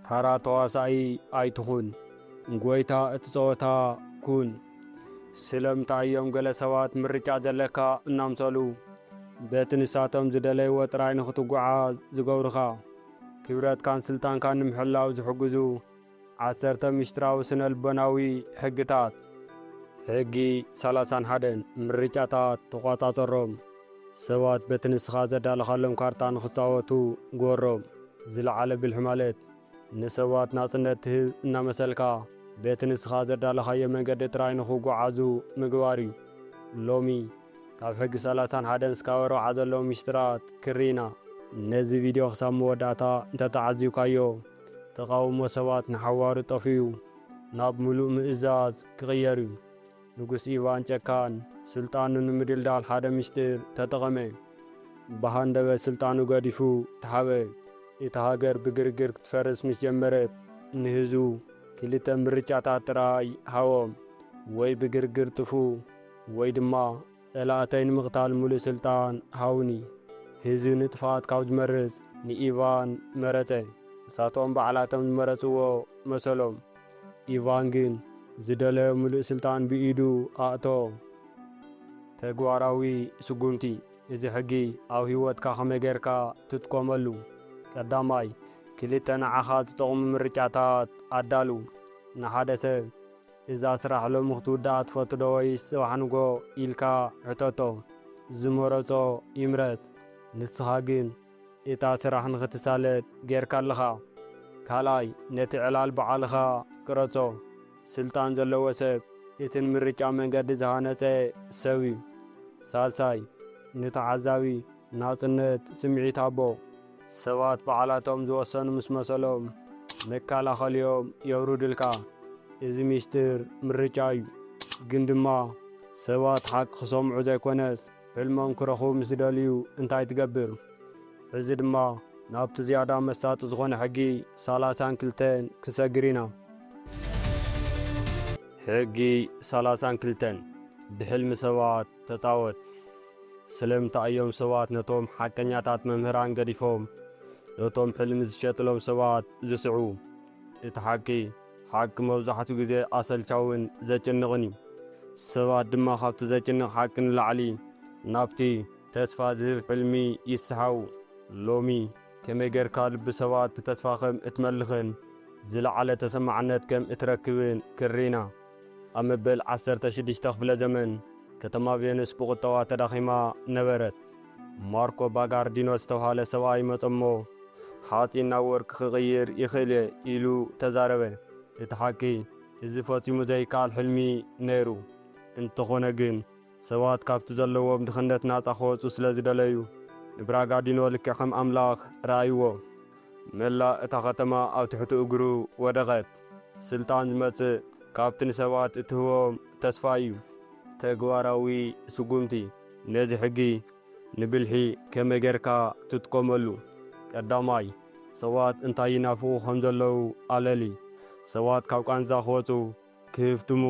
ተራ ተዋሳኢ ኣይትኹን ጎይታ እቲ ጸወታ ኩን። ስለምንታይ እዮም ገለ ሰባት ምርጫ ዘለካ እናምሰሉ በቲ ንሳቶም ዝደለይዎ ጥራይ ንኽትጉዓዝ ዝገብሩኻ? ክብረትካን ስልጣንካን ንምሕላው ዝሕግዙ ዓሰርተ ምስጢራዊ ስነልቦናዊ ሕግታት። ሕጊ ሰላሳን ሓደን፣ ምርጫታት ተቖጻጸሮም። ሰባት በቲ ንስኻ ዘዳለኻሎም ካርታ ንኽጻወቱ ግበሮም። ዝለዓለ ብልሒ ማለት ንሰባት ናጽነት ትህብ እናመሰልካ በቲ ንስኻ ዘዳለኻዮ መንገዲ ጥራይ ንኽጉዓዙ ምግባር እዩ። ሎሚ ካብ ሕጊ ሰላሳን ሓደን ስካብ ኣርብዓ ዘለዉ ሚስጢራት ክርኢ ኢና። ነዚ ቪድዮ ክሳብ መወዳእታ እንተተዓዚብካዮ፣ ተቓውሞ ሰባት ንሓዋሩ ጠፊኡ ናብ ምሉእ ምእዛዝ ክቕየር እዩ። ንጉስ ኢቫን ጨካን ስልጣኑ ንምድልዳል ሓደ ምስጢር ተጠቐመ። ብሃንደበት ስልጣኑ ገዲፉ ተሓበ። እታ ሃገር ብግርግር ክትፈርስ ምስ ጀመረት፣ ንህዝቡ ክልተ ምርጫታት ጥራይ ሃቦም፣ ወይ ብግርግር ጥፍኡ ወይ ድማ ጸላእተይ ንምቕታል ምሉእ ስልጣን ሃቡኒ። ህዝቢ ንጥፍኣት ካብ ዝመርጽ ንኢቫን መረጸ። ንሳቶም ባዕላቶም ዝመረጽዎ መሰሎም። ኢቫን ግን ዝደለዮ ምሉእ ስልጣን ብኢዱ ኣእተዎ። ተግባራዊ ስጉምቲ፣ እዚ ሕጊ ኣብ ህይወትካ ከመይ ጌርካ ትጥቆመሉ? ቀዳማይ፣ ክልተ ንዓኻ ዝጠቕሙ ምርጫታት ኣዳሉ። ንሓደ ሰብ። እዛ ስራሕ ሎሚ ክትውዳኣ ትፈቱ ዶ ወይስ ጽባሕ ንግሆ ኢልካ ሕተቶ ዝመረጾ ይምረጽ ንስኻ ግን እታ ስራሕ ንኽትሳለጥ ጌርካ ኣለኻ ካልኣይ ነቲ ዕላል ብዓልኻ ቅረጾ ስልጣን ዘለዎ ሰብ እቲ ንምርጫ መንገዲ ዝሃነጸ ሰብዩ ሳልሳይ ንተዓዛቢ ናጽነት ስምዒት ኣቦ። ሰባት ባዕላቶም ዝወሰኑ ምስ መሰሎም መካላኸሊኦም የውርዱልካ። እዚ ሚስጥር ምርጫ እዩ። ግን ድማ ሰባት ሓቂ ክሰምዑ ዘይኮነስ ሕልሞም ክረኽቡ ምስ ዝደልዩ እንታይ ትገብር? ሕዚ ድማ ናብቲ ዝያዳ መሳጢ ዝኾነ ሕጊ ሰላሳን ክልተን ክንሰግር ኢና። ሕጊ ሰላሳን ክልተን፣ ብሕልሚ ሰባት ተጻወት። ስለምንታይ እዮም ሰባት ነቶም ሓቀኛታት መምህራን ገዲፎም ነቶም ሕልሚ ዝሸጥሎም ሰባት ዝስዕቡ? እቲ ሓቂ፣ ሓቂ መብዛሕትኡ ግዜ ኣሰልቻውን ዘጭንቕን እዩ። ሰባት ድማ ካብቲ ዘጭንቕ ሓቂ ንላዕሊ ናብቲ። ተስፋ ዝህብ ሕልሚ ይስሓቡ። ሎሚ፣ ከመይ ጌርካ ልቢ ሰባት ብተስፋ ኸም እትመልኽን ዝለዓለ ተሰማዕነት ከም እትረክብን ክንርኢ ኢና። ኣብ መበል ዓሰርተ ሽዱሽተ ክፍለ ዘመን ከተማ ቬኑስ ብቑጠባ ተዳኺማ ነበረት። ማርኮ ባጋርዲኖ ዝተብሃለ ሰብኣይ መጸ'ሞ፣ ሓጺን ናብ ወርቂ ክቕይር ይኽእል'የ ኢሉ ተዛረበ። እቲ ሓቂ፣ እዚ ፈጺሙ ዘይከኣል ሕልሚ ነይሩ። እንተዀነ ግን፣ ሰባት ካብቲ ዘለዎም ድኽነት ናጻ ክወጹ ስለ ዝደለዩ፣ ንብራጋዲኖ ልክዕ ከም ኣምላኽ ረኣይዎ። መላእ እታ ኸተማ ኣብ ትሕቲ እግሩ ወደቐት። ስልጣን ዝመጽእ ካብቲ ንሰባት እትህቦም ተስፋ ኢዩ። ተግባራዊ ስጉምቲ፣ ነዚ ሕጊ ንብልሒ ከመይ ጌርካ ትጥቀመሉ? ቀዳማይ፣ ሰባት እንታይ ይናፍቑ ከም ዘለዉ ኣለሊ። ሰባት ካብ ቃንዛ ክወጹ ክህፍትሙ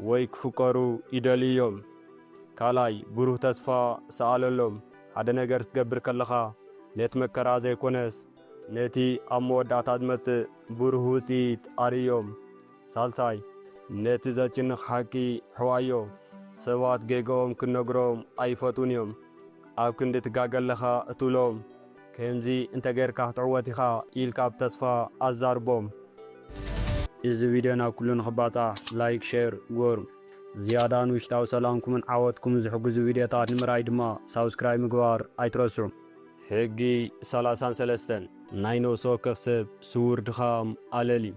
ወይ ክፍቀሩ ይደልዩ እዮም። ካልኣይ፣ ብሩህ ተስፋ ስኣለሎም። ሓደ ነገር ክትገብር ከለኻ፣ ነቲ መከራ ዘይኰነስ ነቲ ኣብ መወዳእታ ዝመጽእ ብሩህ ውጽኢት ኣርእዮም። ሳልሳይ፣ ነቲ ዘጭንቕ ሓቂ ሕዋዮ። ሰባት ጌጋኦም ክትነግሮም ኣይፈትዉን እዮም። ኣብ ክንዲ ትጋገ ኣለኻ እትብሎም፣ ከምዚ እንተ ጌርካ ክትዕወት ኢኻ ኢልካ ብ ተስፋ ኣዛርቦም። እዚ ቪድዮ ናብ ኩሉ ንኽባጻሕ ላይክ ሼር ግበሩ። ዝያዳ ንውሽጣዊ ሰላምኩምን ዓወትኩምን ዝሕግዙ ቪድዮታት ንምርኣይ ድማ ሳብስክራይብ ምግባር ኣይትረስዑ። ሕጊ ሰላሳን ሰለስተን፣ ናይ ነብሲ ወከፍ ሰብ ስዉር ድኻም ኣለልዩ።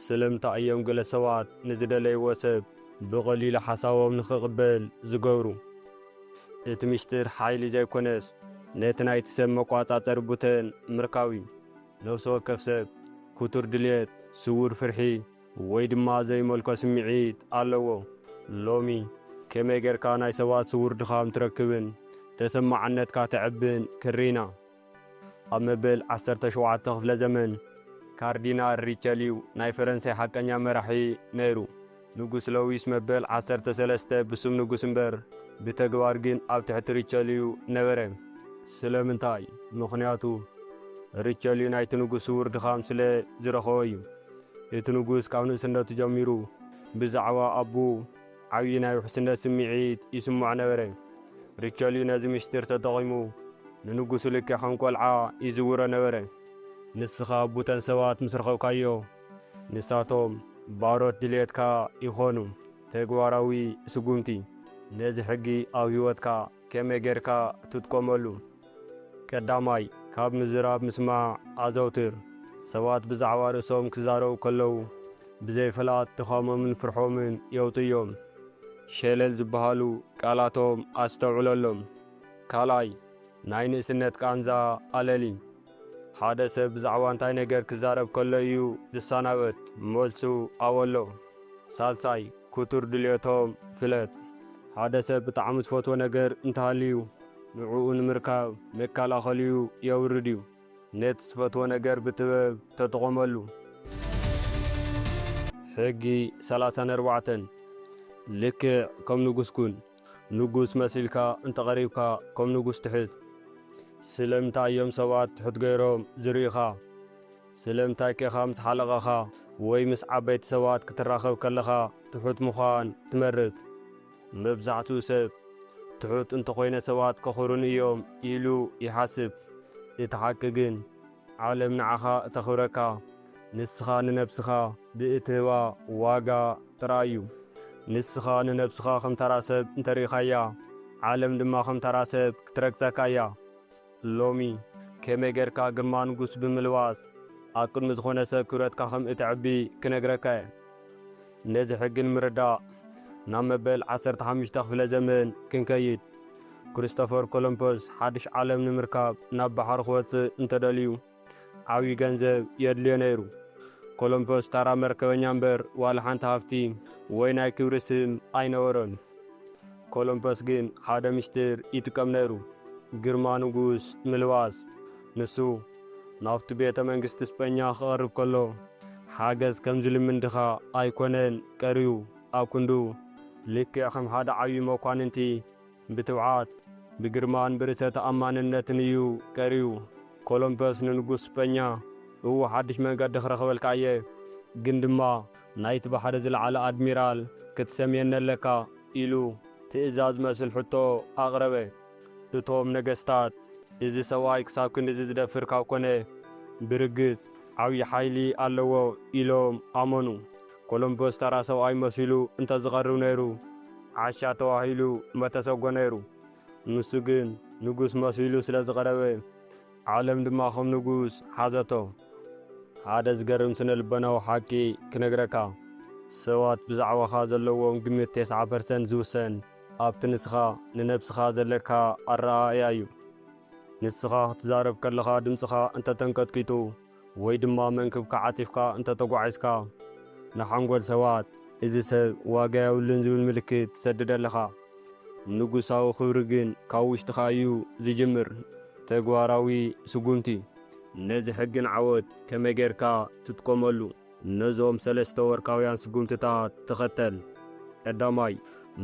ስለምንታይ እዮም ገለ ሰባት ንዝደለይዎ ሰብ ብቐሊሉ ሓሳቦም ንኽቕበል ዝገብሩ? እቲ ምሽጥር ሓይሊ ዘይኮነስ ነቲ ናይቲ ሰብ መቋጻጸሪ ቡተን ምርካብ እዩ። ነፍሲ ወከፍ ሰብ ኩቱር ድልየት፣ ስዉር ፍርሒ ወይ ድማ ዘይመልኮ ስምዒት ኣለዎ። ሎሚ ከመይ ጌርካ ናይ ሰባት ስዉር ድኻም ትረክብን ተሰማዕነትካ ተዕብን ክንሪኢና። ኣብ መበል ዓሰርተ ሸውዓተ ክፍለ ዘመን፣ ካርዲናል ሪቸልዩ ናይ ፈረንሳይ ሓቀኛ መራሒ ነይሩ። ንጉስ ለዊስ መበል ዓሰርተ ሰለስተ ብስም ንጉስ እምበር ብተግባር ግን ኣብ ትሕቲ ሪቸልዩ ነበረ። ስለምንታይ? ምኽንያቱ ሪቸልዩ ናይቲ ንጉስ ስዉር ድኻም ስለ ዝረኸቦ እዩ። እቲ ንጉስ ካብ ንእስነቱ ጀሚሩ ብዛዕባ ኣቡኡ፣ ዓብዪ ናይ ውሕስነት ስምዒት ይስምዖ ነበረ። ሪቸልዩ ነዚ ምስጢር ተጠቒሙ ንንጉሱ ልክዕ ከም ቈልዓ ይዝውሮ ነበረ። ንስኻ ቡተን ሰባት ምስ ረኸብካዮ፣ ንሳቶም ባሮት ድልየትካ ይኾኑ። ተግባራዊ ስጉምቲ፣ ነዚ ሕጊ ኣብ ህይወትካ ከመይ ጌርካ ትጥቀመሉ? ቀዳማይ፣ ካብ ምዝራብ ምስማዕ ኣዘውትር። ሰባት ብዛዕባ ርእሶም ክዛረቡ ከለዉ፣ ብዘይ ፍላጥ ድኻሞምን ፍርሖምን የውጽኡ እዮም። ሸለል ዝበሃሉ ቃላቶም ኣስተውዕለሎም። ካልኣይ፣ ናይ ንእስነት ቃንዛ ኣለሊ። ሓደ ሰብ ብዛዕባ እንታይ ነገር ክዛረብ ከሎ እዩ ዝሰናበት? መልሱ ኣወሎ። ሳልሳይ፣ ክቱር ድልየቶም ፍለጥ። ሓደ ሰብ ብጣዕሚ ዝፈትዎ ነገር እንተሃልዩ፣ ንዕኡ ንምርካብ መከላኸሊኡ የውርድ እዩ። ነቲ ዝፈትዎ ነገር ብጥበብ ተጠቐመሉ። ሕጊ ሰላሳን ኣርባዕተን፣ ልክዕ ከም ንጉስ ኩን። ንጉስ መሲልካ እንተቐሪብካ ከም ንጉስ ትሕዝ። ስለምንታይ እዮም ሰባት ትሑት ገይሮም ዝርእዩኻ? ስለምንታይከ ኻብ ምስ ሓለቓኻ ወይ ምስ ዓበይቲ ሰባት ክትራኸብ ከለኻ ትሑት ምዃን ትመርጽ? መብዛሕትኡ ሰብ፣ ትሑት እንተ ዀይነ ሰባት ከኽብሩኒ እዮም ኢሉ ይሓስብ። እቲ ሓቂ ግን፣ ዓለም ንዓኻ እተኽብረካ ንስኻ ንነብስኻ ብእትህባ ዋጋ ጥራይ እዩ። ንስኻ ንነብስኻ ኸም ተራ ሰብ እንተ ርኢኻያ፣ ዓለም ድማ ኸም ተራ ሰብ ክትረግጸካ እያ። ሎሚ ከመይ ጌርካ ግርማ ንጉስ ብምልባስ ኣብ ቅድሚ ዝኾነ ሰብ ክብረትካ ከም እተዕቢ ክነግረካ እየ። ነዚ ሕጊ ንምርዳእ ናብ መበል ዓሰርተ ሓሙሽተ ክፍለ ዘመን ክንከይድ። ክርስቶፈር ኮሎምፐስ ሓድሽ ዓለም ንምርካብ ናብ ባሕሪ ክወጽእ እንተደልዩ፣ ዓብዪ ገንዘብ የድልዮ ነይሩ። ኮሎምፐስ ታራ መርከበኛ እምበር ዋላ ሓንቲ ሃፍቲ ወይ ናይ ክብሪ ስም ኣይነበሮን። ኮሎምፐስ ግን ሓደ ምሽጢር ይጥቀም ነይሩ፣ ግርማ ንጉስ ምልባስ። ንሱ ናብቲ ቤተ መንግስቲ ስጰኛ ክቐርብ ከሎ ሓገዝ ከም ዝልምን ድኻ ኣይኮነን ቀርዩ፣ ኣብ ክንዱ ልክዕ ከም ሓደ ዓብዪ መኳንንቲ፣ ብትብዓት፣ ብግርማን ብርእሰ ተኣማንነትን እዩ ቀርዩ። ኮሎምፐስ ንንጉስ ስጰኛ፣ እው ሓድሽ መንገዲ ክረኽበልካ እየ፣ ግን ድማ ናይቲ ባሕሪ ዝለዓለ ኣድሚራል ክትሰምየኒ ኣለካ ኢሉ ትእዛዝ ዝመስል ሕቶ ኣቕረበ። እቶም ነገስታት፣ እዚ ሰብኣይ ክሳብ ክንድዚ ዝደፍር ካብ ኮነ፣ ብርግጽ ዓብዪ ሓይሊ ኣለዎ ኢሎም ኣመኑ። ኮሎምበስ ተራ ሰብኣይ መሲሉ እንተ ዝቐርብ ነይሩ ዓሻ ተባሂሉ መተሰጎ ነይሩ። ንሱ ግን ንጉስ መሲሉ ስለ ዝቐረበ ዓለም ድማ ከም ንጉስ ሓዘቶ። ሓደ ዝገርም ስነ-ልቦናዊ ሓቂ ክነግረካ። ሰባት ብዛዕባኻ ዘለዎም ግምት ተስዓ ፐርሰንት ዝውሰን ኣብቲ ንስኻ ንነብስኻ ዘለካ ኣረኣእያ እዩ። ንስኻ ክትዛረብ ከለኻ ድምጽኻ እንተ ተንቀጥቂጡ፣ ወይ ድማ መንክብካ ዓጺፍካ እንተ ተጓዒዝካ፣ ንሓንጎል ሰባት፣ እዚ ሰብ ዋጋ የብሉን ዝብል ምልክት ትሰድድ ኣለኻ። ንጉሳዊ ክብሪ ግን ካብ ውሽጥኻ እዩ ዝጅምር። ተግባራዊ ስጉምቲ። ነዚ ሕግን ዓወት ከመይ ጌርካ ትጥቀመሉ? ነዞም ሰለስተ ወርቃውያን ስጉምትታት ተኸተል። ቀዳማይ፣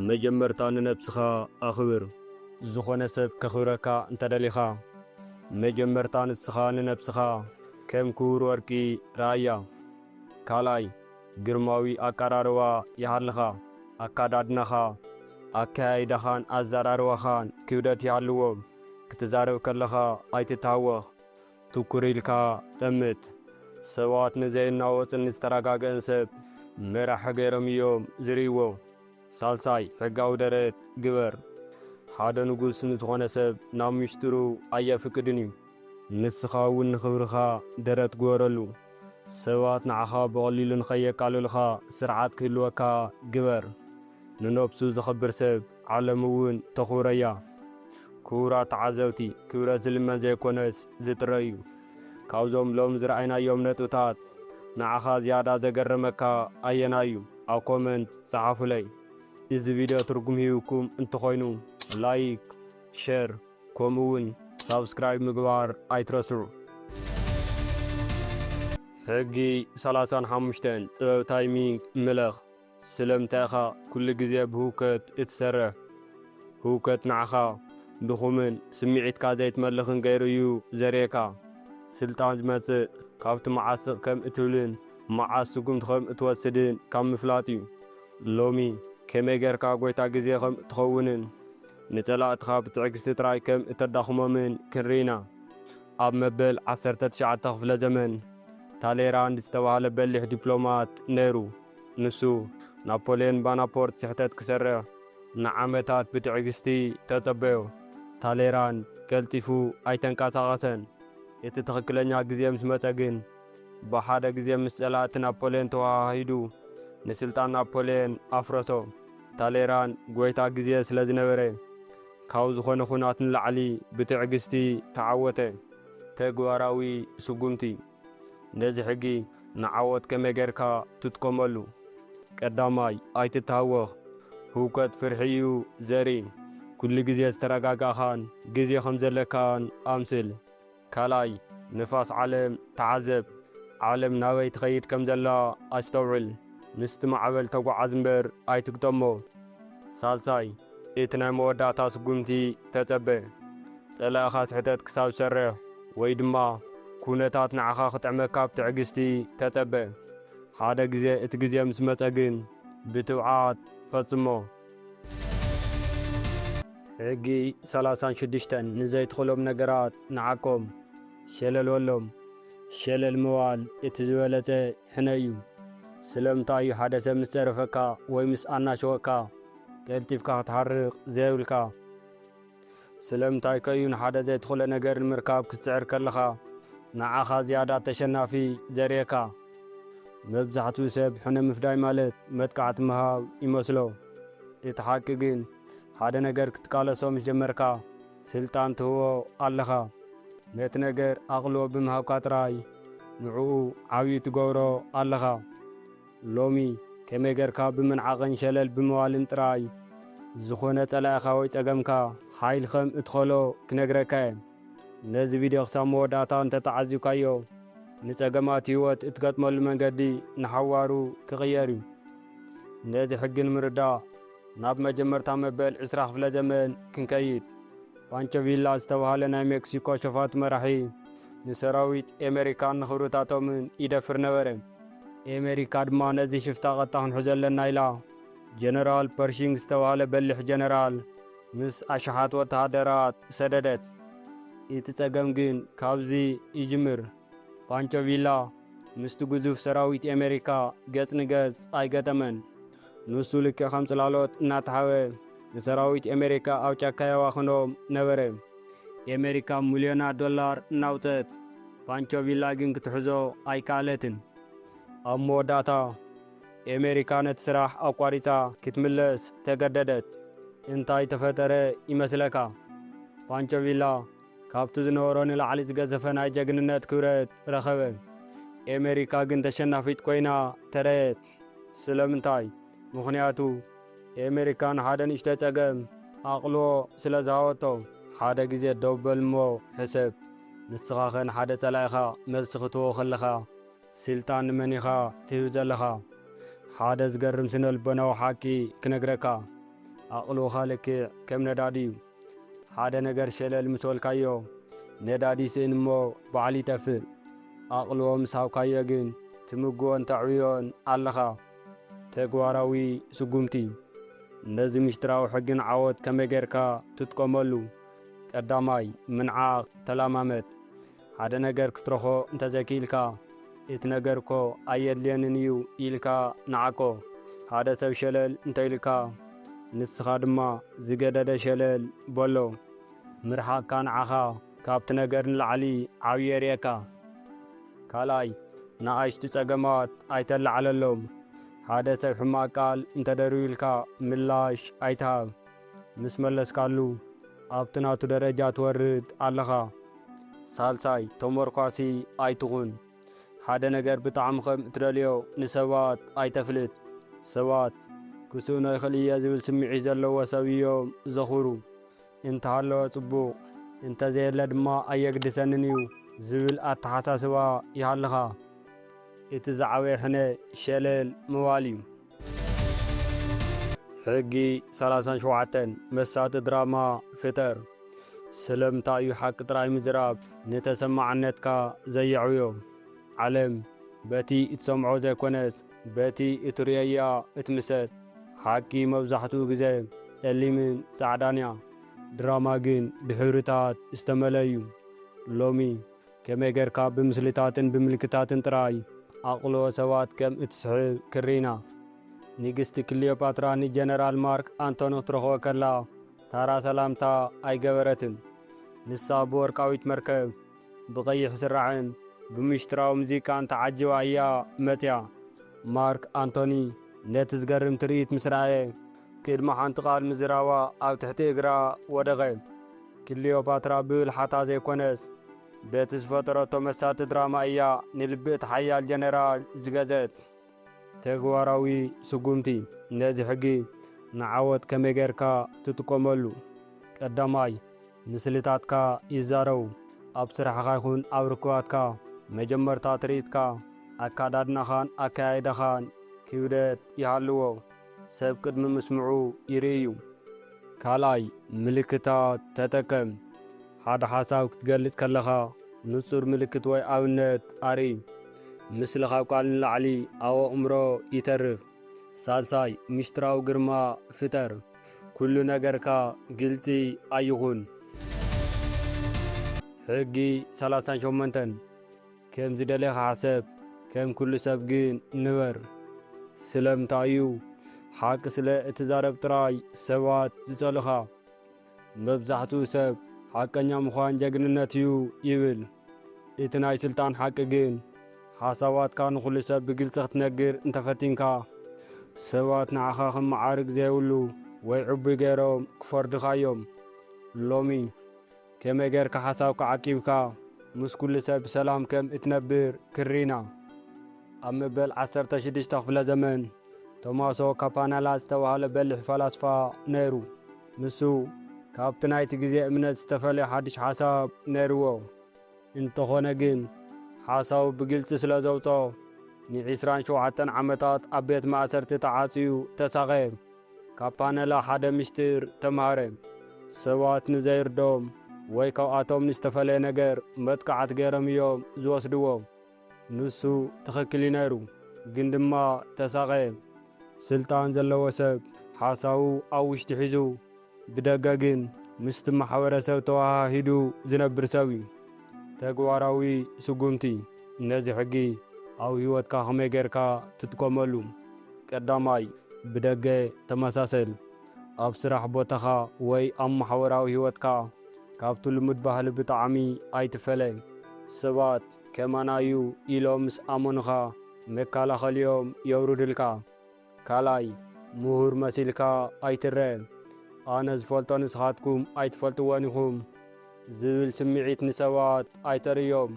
መጀመርታ ንነብስኻ ኣኽብር። ዝኾነ ሰብ ከኽብረካ እንተ ደሊኻ፣ መጀመርታ ንስኻ ንነብስኻ ከም ክቡር ወርቂ ርኣያ። ካልኣይ፣ ግርማዊ ኣቀራርባ ይሃልኻ። ኣካዳድናኻ፣ ኣከያይዳኻን ኣዘራርባኻን ክብደት ይሃልዎ። ክትዛረብ ከለኻ ኣይትተሃወኽ። ትኩር ኢልካ ጠምት። ሰባት ንዘይናወጽን ዝተረጋገእን ሰብ መራሒ ገይሮም እዮም ዝርእይዎ። ሳልሳይ፣ ሕጋዊ ደረት ግበር። ሓደ ንጉስ ንዝኾነ ሰብ ናብ ምሽጥሩ ኣየፍቅድን እዩ። ንስኻ እውን ንኽብርኻ ደረት ግበረሉ። ሰባት ንዓኻ ብቐሊሉ ንኸየቃልሉኻ ስርዓት ክህልወካ ግበር። ንነብሱ ዘኽብር ሰብ ዓለም እውን ተኹብረያ። ክቡራት ተዓዘብቲ፣ ክብረት ዝልመን ዘይኮነስ ዝጥረ እዩ። ካብዞም ሎሚ ዝረኣይናዮም ነጥብታት ንዓኻ ዝያዳ ዘገረመካ ኣየናይ እዩ? ኣብ ኮመንት ጸሓፉለይ። እዚ ቪድዮ ትርጉም ሂብኩም እንተኾይኑ ላይክ፣ ሸር ከምኡ እውን ሳብስክራይብ ምግባር ኣይትረስዑ። ሕጊ ሰላሳን ሓሙሽተን ጥበብ ታይሚንግ ምለኽ። ስለምንታይ ኢኻ ኩሉ ግዜ ብህውከት እትሰርሕ? ህውከት ንዓኻ ድኹምን ስምዒትካ ዘይትመልኽን ገይሩ እዩ ዘርእየካ። ስልጣን ዝመጽእ ካብቲ መዓስ ስቕ ከም እትብልን መዓስ ስጉምቲ ከም እትወስድን ካብ ምፍላጥ እዩ። ሎሚ ከመይ ጌርካ ጐይታ ግዜ ከም እትኸውንን ንጸላእትኻ ብትዕግስቲ ጥራይ ከም እተዳኽሞምን ክንርኢ ኢና። ኣብ መበል ዓሰርተ ትሽዓተ ክፍለ ዘመን፣ ታሌራንድ ዝተባህለ በሊሕ ዲፕሎማት ነይሩ። ንሱ፣ ናፖልዮን ባናፖርት ስሕተት ክሰርሕ ንዓመታት ብትዕግስቲ ተጸበዮ። ታሌራን ቀልጢፉ ኣይተንቀሳቐሰን። እቲ ትኽክለኛ ግዜ ምስ መጸ ግን፣ ብሓደ ግዜ ምስ ጸላእቲ ናፖልዮን ተወሃሂዱ ንስልጣን ናፖልዮን ኣፍረሶ። ታሌራን ጎይታ ግዜ ስለ ዝነበረ፣ ካብ ዝኾነ ኹናት ንላዕሊ ብትዕግስቲ ተዓወተ። ተግባራዊ ስጉምቲ። ነዚ ሕጊ ንዓወት ከመይ ጌርካ ትጥቀመሉ? ቀዳማይ፣ ኣይትታወኽ። ህውከት ፍርሒ እዩ ዘርኢ። ኩሉ ግዜ ዝተረጋጋእካን ግዜ ከም ዘለካን ኣምስል። ካልኣይ፣ ንፋስ ዓለም ተዓዘብ። ዓለም ናበይ ትኸይድ ከም ዘላ ኣስተውዕል። ምስቲ ማዕበል ተጓዓዝ እምበር ኣይትግጠሞ። ሳልሳይ፣ እቲ ናይ መወዳእታ ስጉምቲ ተጸበ። ጸላኢኻ ስሕተት ክሳብ ዝሰርሕ ወይ ድማ ኩነታት ንዓኻ ክጥዕመካ ብትዕግስቲ ተጸበ። ሓደ ግዜ እቲ ግዜ ምስ መጸ ግን ብትብዓት ፈጽሞ። ሕጊ ሰላሳን ሽዱሽተን ንዘይትኽእሎም ነገራት ንዓቆም። ሸለል በሎም። ሸለል ምባል እቲ ዝበለጸ ሕነ እዩ። ስለምንታይ እዩ ሓደ ሰብ ምስ ጸረፈካ ወይ ምስ ኣናሸወካ ቀልጢፍካ ክትሓርቕ ዘይብልካ? ስለምንታይከ እዩ ንሓደ ዘይትኽእሎ ነገር ንምርካብ ክትጽዕር ከለኻ ንዓኻ ዝያዳ ተሸናፊ ዘርእየካ? መብዛሕትኡ ሰብ ሕነ ምፍዳይ ማለት መጥቃዕቲ ምሃብ ይመስሎ። እቲ ሓቂ ግን ሓደ ነገር ክትቃለሶ ምስ ጀመርካ ስልጣን ትህቦ ኣለኻ ነቲ ነገር ኣቅልቦ ብምሃብካ ጥራይ ንዕኡ ዓብዩ ትገብሮ ኣለኻ ሎሚ ከመይ ገርካ ብምንዓቅን ሸለል ብምባልን ጥራይ ዝኮነ ጸላኢካ ወይ ጸገምካ ሓይል ከም እትከሎ ክነግረካ እየ ነዚ ቪድዮ ክሳብ መወዳእታ እንተ ተዓዚብካዮ ንጸገማት ሂወት እትገጥመሉ መንገዲ ንሓዋሩ ክቅየር እዩ ነዚ ሕጊ ንምርዳእ ናብ መጀመርታ መበል ዕስራ ክፍለ ዘመን ክንከይድ፣ ፓንቾ ቪላ ዝተብሃለ ናይ ሜክሲኮ ሸፋቱ መራሒ፣ ንሰራዊት ኤመሪካን ንክብርታቶምን ይደፍር ነበረ። ኤመሪካ ድማ ነዚ ሽፍታ ቀጥታ ክንሕዞ ኣለና ኢላ፣ ጀነራል ፐርሺንግ ዝተብሃለ በሊሕ ጀነራል ምስ ኣሽሓት ወተሃደራት ሰደደት። እቲ ጸገም ግን ካብዚ ይጅምር። ፓንቾ ቪላ ምስቲ ግዙፍ ሰራዊት ኤመሪካ ገጽ ንገጽ ኣይገጠመን። ንሱ ልክዕ ከም ጽላሎት እናተሓበ ንሰራዊት ኤመሪካ ኣብ ጫካ የባኽኖም ነበረ። ኤመሪካ ምልዮናት ዶላር እናውጸት፣ ፓንቾ ቪላ ግን ክትሕዞ ኣይከኣለትን። ኣብ መወዳእታ ኤመሪካ ነቲ ስራሕ ኣቋሪጻ ክትምለስ ተገደደት። እንታይ ተፈጠረ ይመስለካ? ፓንቾ ቪላ ካብቲ ዝነበሮ ንላዕሊ ዝገዘፈ ናይ ጀግንነት ክብረት ረኸበ። ኤመሪካ ግን ተሸናፊት ኮይና ተረየት። ስለምንታይ? ምኽንያቱ ኤመሪካ ንሓደ ንእሽቶ ጸገም ኣቕልቦ ስለ ዝሃበቶ። ሓደ ግዜ ደው በል እሞ ሕሰብ፣ ንስኻኸ ንሓደ ጸላኢኻ መልሲ ክትህቦ ከለኻ ስልጣን ንመን ኢኻ ትህብ ዘለኻ? ሓደ ዝገርም ስነ-ልቦናዊ ሓቂ ክነግረካ፣ ኣቕልቦኻ ልክዕ ከም ነዳዲ'ዩ። ሓደ ነገር ሸለል ምስ በልካዮ ነዳዲ ይስእን እሞ ባዕሉ ይጠፍእ። ኣቕልቦ ምስ ሃብካዮ ግን ትምግቦን ተዕብዮን ኣለኻ። ተግባራዊ ስጉምቲ፣ ነዚ ምሽጥራዊ ሕጊ ንዓወት ከመይ ጌርካ ትጥቀመሉ? ቀዳማይ፣ ምንዓቕ ተለማመድ። ሓደ ነገር ክትረኾ እንተዘይክኢልካ፣ እቲ ነገር እኮ ኣየድልየንን እዩ ኢልካ ንዓቆ። ሓደ ሰብ ሸለል እንተኢሉካ፣ ንስኻ ድማ ዝገደደ ሸለል በሎ። ምርሓቕካ ንዓኻ ካብቲ ነገር ንላዕሊ ዓብዪ የርእየካ። ካልኣይ፣ ንኣሽቱ ጸገማት ኣይተላዕለሎም። ሓደ ሰብ ሕማቕ ቃል እንተደርብዩልካ ምላሽ ኣይትሃብ። ምስ መለስካሉ ኣብቲ ናቱ ደረጃ ትወርድ ኣለኻ። ሳልሳይ፣ ተሞርኳሲ ኣይትኹን። ሓደ ነገር ብጣዕሚ ከም እትደልዮ ንሰባት ኣይተፍልጥ። ሰባት፣ ክስእኖ ይኽእል እየ ዝብል ስምዒት ዘለዎ ሰብ እዮም ዘኽብሩ። እንተሃለወ ጽቡቕ፣ እንተዘየለ ድማ ኣየግድሰንን እዩ ዝብል ኣተሓሳስባ ይሃልኻ። እቲ ዝዓበየ ሕነ ሸለል ምባል እዩ። ሕጊ ሰላሳን ሸውዓተን መሳጢ ድራማ ፍጠር። ስለምንታይ እዩ ሓቂ ጥራይ ምዝራብ ንተሰማዕነትካ ዘየዕብዮ? ዓለም በቲ እትሰምዖ ዘይኮነስ በቲ እትርእዮ እያ እትምሰጥ። ሓቂ መብዛሕትኡ ግዜ ጸሊምን ጻዕዳን እያ፣ ድራማ ግን ብሕብርታት ዝተመልአ እዩ። ሎሚ ከመይ ጌርካ ብምስልታትን ብምልክታትን ጥራይ ኣቕልቦ ሰባት ከም እትስሕብ ክርኢና። ንግስቲ ክልዮጳትራ ንጀነራል ማርክ ኣንቶኒ ክትረኽቦ ከላ ታራ ሰላምታ ኣይገበረትን። ንሳ ብወርቃዊት መርከብ፣ ብቐይሕ ስራዕን ብምሽጥራዊ ሙዚቃን ተዓጂባ እያ መጺኣ። ማርክ ኣንቶኒ ነቲ ዝገርም ትርኢት ምስ ረኣየ፣ ቅድሚ ሓንቲ ቓል ምዝራባ ኣብ ትሕቲ እግራ ወደቐ። ክሊዮፓትራ ብብልሓታ ዘይኮነስ በቲ ዝፈጠረቶ መሳጢ ድራማ እያ ንልቢ እቲ ሓያል ጀነራል ዝገዘት። ተግባራዊ ስጉምቲ፣ ነዚ ሕጊ ንዓወት ከመይ ጌርካ ትጥቀመሉ? ቀዳማይ፣ ምስልታትካ ይዛረቡ። ኣብ ስራሕኻ ይኹን ኣብ ርክባትካ፣ መጀመርታ ትርኢትካ፣ ኣካዳድናኻን ኣከያይዳኻን ክብደት ይሃልዎ። ሰብ ቅድሚ ምስምዑ ይርእዩ። ካልኣይ፣ ምልክታት ተጠቀም። ሓደ ሓሳብ ክትገልጽ ከለኻ ንጹር ምልክት ወይ ኣብነት ኣርኢ። ምስሊ ካብ ቃል ንላዕሊ ኣብ ኣእምሮ ይተርፍ። ሳልሳይ፣ ምሽጥራዊ ግርማ ፍጠር። ኩሉ ነገርካ ግልጺ ኣይኹን። ሕጊ ሰላሳን ሸሞንተን፣ ከም ዝደለኻ ሕሰብ፣ ከም ኩሉ ሰብ ግን ንበር። ስለምንታይ እዩ? ሓቂ ስለ እትዛረብ ጥራይ ሰባት ዝጸሉኻ። መብዛሕትኡ ሰብ ሓቀኛ ምዃን ጀግንነት እዩ ይብል። እቲ ናይ ስልጣን ሓቂ ግን ሓሳባትካ ንኹሉ ሰብ ብግልጺ ክትነግር እንተፈቲንካ ሰባት ንዓኻ ከም መዓርግ ዘይብሉ ወይ ዕቡይ ገይሮም ክፈርዱኻ እዮም። ሎሚ ከመይ ጌርካ ሓሳብካ ዓቂብካ ምስ ኩሉ ሰብ ብሰላም ከም እትነብር ክርኢና። ኣብ መበል ዓሰርተ ሽዱሽተ ክፍለ ዘመን ቶማሶ ካፓናላ ዝተባህለ በሊሕ ፈላስፋ ነይሩ። ንሱ ካብቲ ናይቲ ግዜ እምነት ዝተፈልየ ሓድሽ ሓሳብ ነይርዎ። እንተኾነ ግን ሓሳቡ ብግልጺ ስለ ዘውጽኦ ንዒስራን ሸውዓተን ዓመታት ኣብ ቤት ማእሰርቲ ተዓጽዩ ተሳቐየ። ካብ ፓነላ ሓደ ምስጢር ተማህረ፣ ሰባት ንዘይርድኦም ወይ ካብኣቶም ንዝተፈለየ ነገር መጥቃዕቲ ገይሮም እዮም ዝወስድዎ። ንሱ ትኽክል እዩ ነይሩ፣ ግን ድማ ተሳቐየ። ስልጣን ዘለዎ ሰብ ሓሳቡ ኣብ ውሽጢ ሒዙ ብደገ ግን ምስቲ ማሕበረሰብ ተወሃሂዱ ዝነብር ሰብ እዩ። ተግባራዊ ስጉምቲ፣ ነዚ ሕጊ ኣብ ህይወትካ ከመይ ጌርካ ትጥቀመሉ? ቀዳማይ፣ ብደገ ተመሳሰል። ኣብ ስራሕ ቦታኻ ወይ ኣብ ማሕበራዊ ህይወትካ ካብቲ ልሙድ ባህሊ ብጣዕሚ ኣይትፈለ። ሰባት ከማና እዩ ኢሎም ምስ ኣመኑኻ መካላኸሊኦም የውርዱልካ። ካልኣይ ምሁር መሲልካ ኣይትረእ ኣነ ዝፈልጦ ንስኻትኩም ኣይትፈልጥዎን ኢኹም ዝብል ስምዒት ንሰባት ኣይተርእዮም።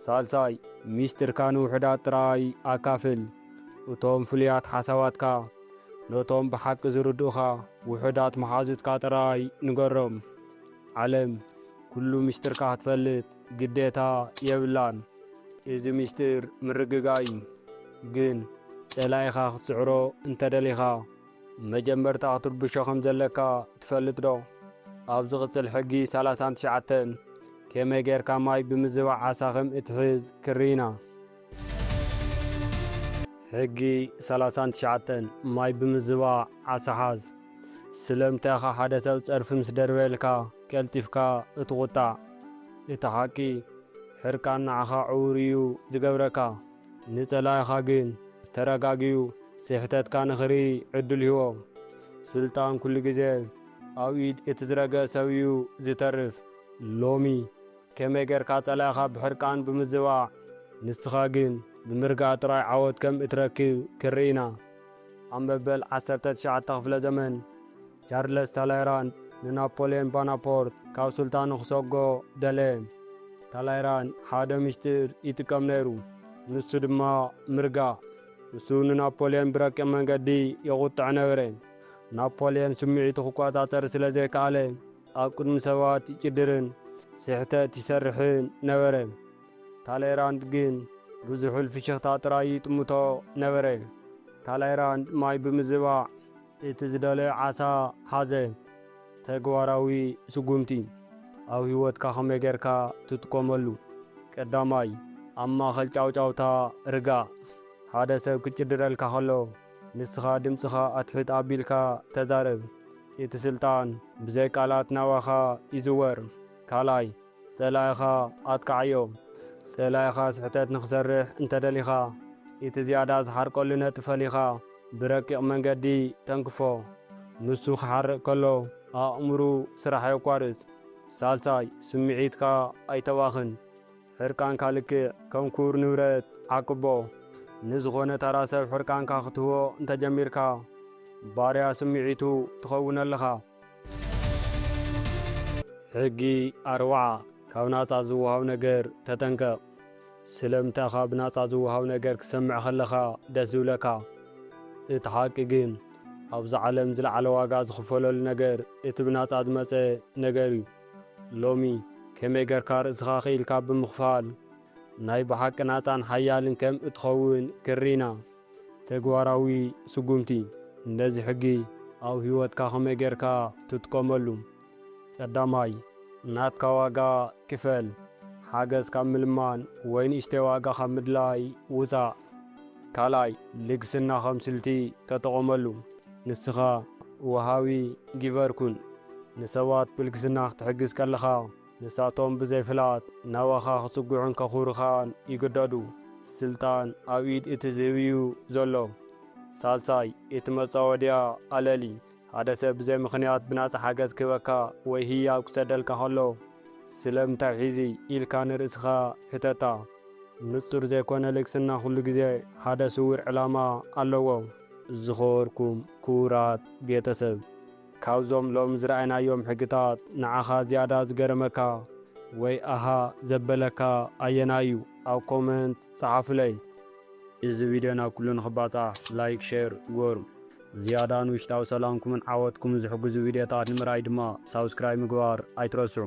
ሳልሳይ ሚስጢርካ ንውሑዳት ጥራይ ኣካፍል። እቶም ፍሉያት ሓሳባትካ ነቶም ብሓቂ ዝርድኡኻ ውሑዳት መሓዙትካ ጥራይ ንገሮም። ዓለም ኩሉ ሚስጢርካ ክትፈልጥ ግዴታ የብላን እዚ ሚስጢር ምርግጋእ እዩ ግን ጸላኢኻ ክትስዕሮ እንተደሊኻ መጀመርታ ክትርብሾ ከምዘለካ ትፈልጥ ዶ ኣብ ዝቕጽል ሕጊ ሰላሳን ትሽዓተን ከመይ ጌርካ ማይ ብምዝባዕ ዓሳ ከም እትሕዝ ክርኢና። ሕጊ ሰላሳን ትሽዓተን፣ ማይ ብምዝባዕ ዓሳ ሓዝ። ስለምንታይ ኢኻ ሓደ ሰብ ጸርፊ ምስ ደርበየልካ ቀልጢፍካ እትቝጣዕ? እቲ ሓቂ፣ ሕርቃን ንዓኻ ዕዉር እዩ ዚገብረካ፣ ንጸላኢኻ ግን ተረጋጊኡ ስሕተትካ ንኺርኢ ዕድል ህቦ። ስልጣን ኵሉ ግዜ ኣብ ኢድ እቲ ዝረግአ ሰብ እዩ ዚተርፍ። ሎሚ፣ ከመይ ጌርካ ጸላኢኻ ብሕርቃን ብምዝባዕ ንስኻ ግን ብምርጋእ ጥራይ ዓወት ከም እትረክብ ክንርኢና። ኣብ መበል ዓሰርተ ትሽዓተ ክፍለ ዘመን፣ ቻርለስ ታላይራንድ ንናፖልዮን ባናፖርት ካብ ሱልጣኑ ክሰጎ ደለየ። ታላይራንድ ሓደ ምሽጥር ይጥቀም ነይሩ፣ ንሱ ድማ ምርጋእ። ንሱ ንናፖልዮን ብረቂቕ መንገዲ የቝጥዖ ነበረ። ናፖልዮን ስምዒቱ ክቈጻጸር ስለ ዘይከኣለ፣ ኣብ ቅድሚ ሰባት ይጭድርን ስሕተት ይሰርሕን ነበረ። ታሌራንድ ግን ብዙሑል ፍሽኽታ ጥራይ ይጥምቶ ነበረ። ታሌራንድ ማይ ብምዝባዕ እቲ ዝደለዮ ዓሳ ሓዘ። ተግባራዊ ስጉምቲ ኣብ ህይወትካ ከመይ ጌርካ ትጥቀመሉ? ቀዳማይ፣ ኣብ ማእከል ጫውጫውታ ርጋእ። ሓደ ሰብ ክጭድረልካ ከሎ ንስኻ ድምጽኻ ኣትሕት ኣቢልካ ተዛረብ። እቲ ስልጣን ብዘይ ቃላት ናባኻ ይዝወር። ካልኣይ፣ ጸላኢኻ ኣጥቅዓዮ። ጸላኢኻ ስሕተት ንኽሰርሕ እንተ ደሊኻ፣ እቲ ዝያዳ ዝሓርቀሉ ነጥቢ ፈሊኻ ብረቂቕ መንገዲ ተንክፎ። ንሱ ክሓርቕ ከሎ ኣእምሩ ስራሕ የቋርጽ። ሳልሳይ፣ ስምዒትካ ኣይተባኽን። ሕርቃንካ ልክዕ ከም ክቡር ንብረት ዓቅቦ። ንዝኾነ ተራ ሰብ ሕርቃንካ ክትህቦ እንተጀሚርካ ባርያ ስምዒቱ ትኸውን ኣለኻ። ሕጊ ኣርብዓ፣ ካብ ናጻ ዝወሃብ ነገር ተጠንቀቕ። ስለምንታይ ኢኻ ብናጻ ዝወሃብ ነገር ክትሰምዕ ከለኻ ደስ ዝብለካ? እቲ ሓቂ ግን፣ ኣብዛ ዓለም ዝለዓለ ዋጋ ዝኽፈለሉ ነገር እቲ ብናጻ ዝመጸ ነገር'ዩ። ሎሚ ከመይ ገርካ ርእስኻ ክኢልካ ብምኽፋል ናይ ብሓቂ ናጻን ሓያልን ከም እትኸውን ክርኢና። ተግባራዊ ስጉምቲ፣ ነዚ ሕጊ ኣብ ህይወትካ ከመይ ገርካ ትጥቀመሉ? ቀዳማይ፣ ናትካ ዋጋ ክፈል። ሓገዝ ካብ ምልማን ወይ ንእሽተይ ዋጋ ካብ ምድላይ ውጻእ። ካልኣይ፣ ልግስና ከም ስልቲ ተጠቐመሉ። ንስኻ ወሃቢ፣ Giver፣ ኩን። ንሰባት ብልግስና ክትሕግዝ ከለኻ፣ ንሳቶም ብዘይ ፍልሃት ናባኻ ክጽግዑን ከኹሩኻን ይግደዱ። ስልጣን ኣብ ኢድ እቲ ዝህብ'ዩ ዘሎ። ሳልሳይ፣ እቲ መጻወድያ ኣለሊ። ሓደ ሰብ ብዘይ ምኽንያት ብናጻ ሓገዝ ክህበካ ወይ ህያብ ክሰደልካ ከሎ፣ ስለምንታይ ሒዚ? ኢልካ ንርእስኻ ሕተታ። ንጹር ዘይኮነ ልግስና ኩሉ ግዜ ሓደ ስዉር ዕላማ ኣለዎ። ዝኸበርኩም ክቡራት ቤተሰብ፣ ካብዞም ሎሚ ዝረኣናዮም ሕግታት ንዓኻ ዝያዳ ዝገረመካ ወይ ኣሃ ዘበለካ ኣየናይ እዩ? ኣብ ኮመንት ጸሓፉለይ። እዚ ቪድዮ ናብ ኩሉ ንኽባጻዕ ላይክ ሼር ግበሩ። ዝያዳ ንውሽጣዊ ሰላምኩምን ዓወትኩምን ዝሕግዙ ቪድዮታት ንምርኣይ ድማ ሳብስክራይብ ምግባር ኣይትረስዑ።